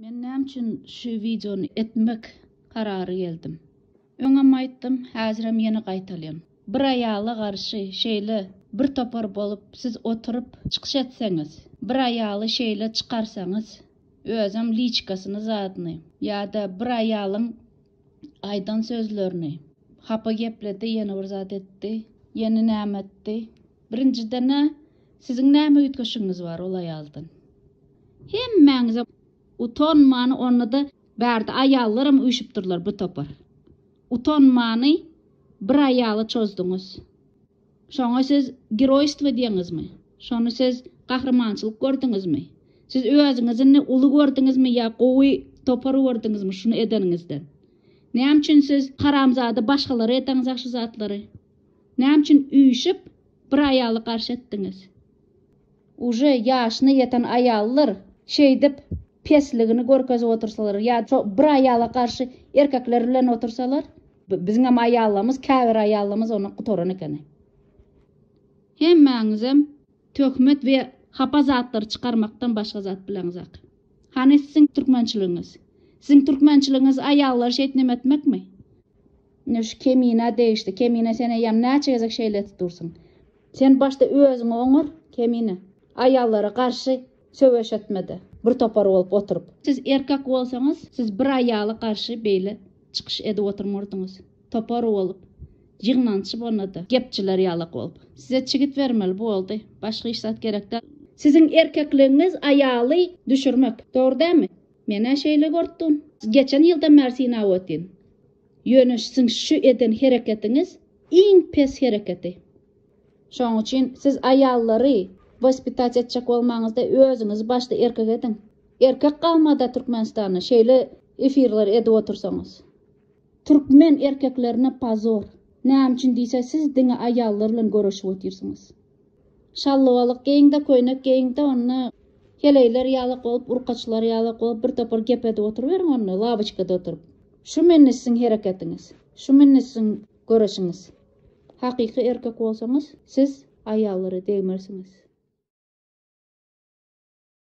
Men näme üçin şu wideony etmek karary geldim? Öňem aýtdym, häzirem ýene gaýtalýan. Bir aýala garşy şeýle bir topar bolup siz oturyp çykyş etseňiz, bir aýaly şeýle çykarsaňyz, özem liçkasyny zadyny, ýa-da bir aýalyň aýdan sözlerini, hapa gepledi, ýene bir zat etdi, ýene näme etdi, Birinjiden-ä, siziň näme üýtgeşigiňiz bar ol aýaldan? Hemmäňiz-ä utanmany, onda-da bärde aýallaram üýşüp durlar bu topar. Utanmany bir aýala çozduňyz. Şoňa siz geroýstwo diýeňizmi? Şony siz gahrymançylyk gördüňizmi? Siz özüňizi indi uly gördüňizmi ýa gowy topar gördüňizmi şuny edeniňizden? Näme üçin siz haramzada başgalara edeňiz-ä şu zatlary? Näme üçin üýşüp bir aýaly garşy etdiňiz. Uje ýaşyna ýeten aýallar şeýdip pesligini görkezip otursalar ýa şo bir aýala garşy erkekler bilen otursalar biziňem aýallarymyz käbir aýallarymyz onda gutaran ekeni. Hemmäňizem töhmet we hapa zatlary çykarmakdan başga zat bileňizak. Hany siziň türkmençiligiňiz? Siziň türkmençiligiňiz aýallary şeýt neme etmekmi? Ine şu kemine degişli kemine sen eýýäm näçe gezek şeýle edip dursyň. Sen başda özüňi oňar kemine. Aýallara garşy söweş etmede bir topar bolup oturyp. Siz erkek bolsaňyz siz bir aýala garşy beýle çykyş edip oturmardyňyz. Topar bolup. Ýygnanç bolnada gepçiler ýalak bolup. Size çigit bermeli boldy. Başga hiç zat gerek däl. Siziň erkekligiňiz aýaly düşürmek. Dogry dämi? Menä şeýle görüpdim. Geçen ýyldan bäri synap otyryn. Ýöne siziň şu eden hereketiňiz iň pes hereketi. Şonuň üçin siz aýallary waspitać etjek bolmaňyzda özüňizi başda erkek ediň. Erkek galmada Türkmenistanda şeýle efirleri edip otursaňyz. Türkmen erkeklerine pozor. Näme üçin diýse siz diňe aýallar bilen göreşip otyrsyňyz. Şallybalyk geýiň-de, köýnek geýiň-de, onda heleýler ýalak bolup, urkaçlar ýalak bolup, bir topar gep edip oturyberiň onda, laboçkada oturyp. Şu mende siziň hereketiňiz. Şu mende siziň göreşiňiz. Hakyky erkek bolsaňyz, siz aýallara degmersiňiz.